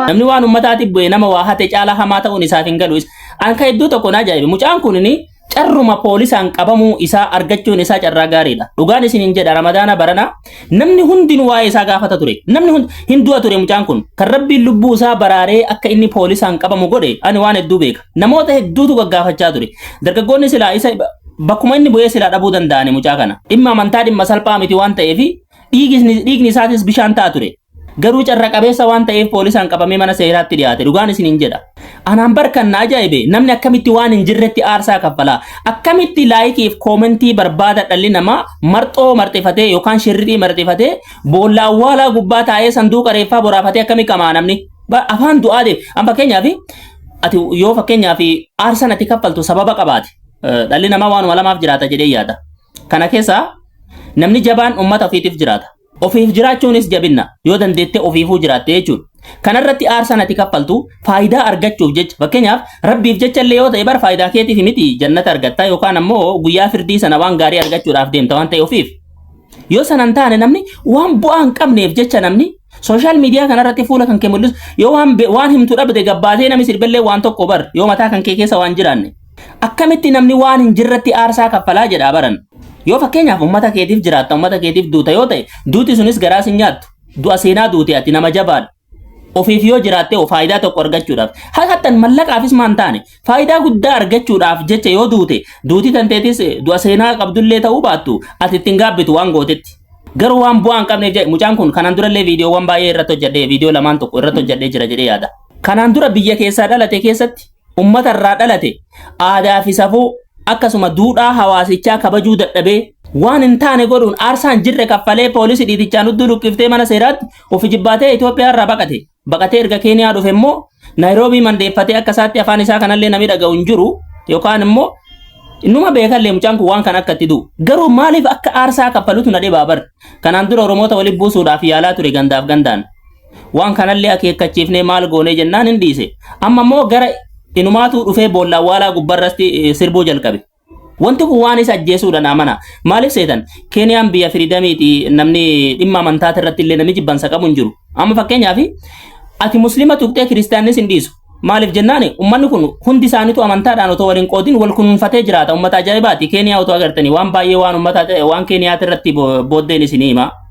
Namni waan uummataatiif bu'e nama waa hate caalaa hamaa ta'uun isaaf hin galu. An ka hedduu tokko na ajaa'ibe. Mucaan kun carruma poolisaan qabamuu isaa argachuun isaa carraa gaariidha. Dhugaan isin hin jedha ramadaana barana namni hundinuu waa'ee isaa gaafata ture. Namni hundi hin du'a ture mucaan kun. Kan rabbiin lubbuu isaa baraaree akka inni poolisaan qabamu godhe ani waan hedduu beeka. Namoota hedduutu gaggaafachaa ture. Dargaggoonni silaa isa bakkuma inni bu'ee silaa dhabuu danda'ani mucaa kana. Dhimma amantaa dhimma salphaa miti waan ta'eef Dhiigisni- Dhiigni isaatis bishaan ta'a ture. Garuu carra qabeessa waan ta'eef poolisaan qabamee mana seeraatti dhiyaate. Dhugaan isiniin jedha. Anaan bar kan na ajaa'ibe namni akkamitti waan hin jirretti aarsaa kaffala. Akkamitti laayikiif koomentii barbaada dhalli namaa marxoo marxifatee yookaan shirritii marxifatee boolla awwaalaa gubbaa taa'ee sanduuqa reeffaa boraafatee akkamii qamaa namni. Ba- Afaan du'aa deema. An fakkeenyaaf ati yoo fakkeenyaaf aarsan ati kaffaltu sababa qabaate. Eh, Dhalli namaa waanuma lamaaf jiraata jedhee yaada. Kana keessaa namni jabaan uummata ofiitiif jiraata. Ofiif jiraachuunis jabinna yoo dandeettee ofiifuu jiraatte jechuudha. Kanarratti aarsaan ati kaffaltu faayidaa argachuuf jecha fakkeenyaaf rabbiif jecha illee yoo ta'e bara faayidaa keetiif miti jannata argatta yookaan ammoo guyyaa firdii sana waan gaarii argachuudhaaf deemta waan ta'e ofiif. Yoo sana hin taane namni waan bu'aa hin qabneef jecha namni sooshaal miidiyaa kanarratti fuula kan kee mul'isu yoo waan be- waan himtu dhabde gabbaatee namni sirbellee waan tokko bar yoo mataa kan kee keessa waan jiraanne. Akkamitti namni waan hin jirretti aarsaa kaffalaa jedhaa baran. Yoo fakkeenyaaf ummata keetiif jiraatta ummata keetiif duuta yoo ta'e duuti sunis garaa sin nyaattu. Du'a seenaa duute ati nama jabaadha. Ofiif yoo jiraatte hoo faayidaa tokko argachuudhaaf. Hattan mallaqaafis maan taane faayidaa guddaa argachuudhaaf jecha yoo duute duuti tanteetis eh, du'a seenaa qabdullee ta'uu baattu ati ittiin gaabbitu waan gootetti. Garuu waan bu'aa hin qabneef jedhe mucaan kun kanaan durallee viidiyoowwan baay'ee irratti hojjedhee viidiyoo lamaan tokko irratti hojjedhee jira jedhee yaada. Kanaan dura biyya keessaa dhalate keessatti ummata irraa dhalate aadaa fi safuu akkasuma duudhaa hawaasichaa kabajuu dadhabee waan hin taane godhuun aarsaa hin jirre kaffalee poolisii dhiitichaan udduu luqqiftee mana seeraatti ofi jibbaatee Itoophiyaa irraa baqate. Baqatee erga Keeniyaa dhufe immoo Naayiroobii mandeeffatee akka isaatti afaan isaa kanallee namni dhaga'u hin jiru yookaan immoo Innuma beekallee mucaan kun waan kana akka itti du'u. Garuu maaliif akka aarsaa kaffalutu na dhibaa bar. Kanaan dura Oromoota walitti buusuudhaaf yaalaa ture gandaaf gandaan. Waan kanallee akeekkachiifnee maal goonee jennaan hin dhiise. Amma immoo gara inumaatuu dhufee boolla awwaalaa gubbarratti eh, sirbuu jalqabe. Wanti kun waan isa ajjeesuudhaan amana. Maaliif seetan? Keeniyaan biyya firiidamiiti namni dhimma amantaa irratti illee namni jibbansa qabu hin jiru. Amma fakkeenyaaf ati muslima tuqxee kiristaannis hin dhiisu. Maaliif jennaan ummanni kun hundi isaaniitu amantaadhaan otoo waliin qoodin wal kunuunfatee jiraata. Ummata ajaa'ibaati. Keeniyaa otoo agartanii waan baay'ee waan ummata waan Keeniyaati irratti bo- booddeen isinii hima.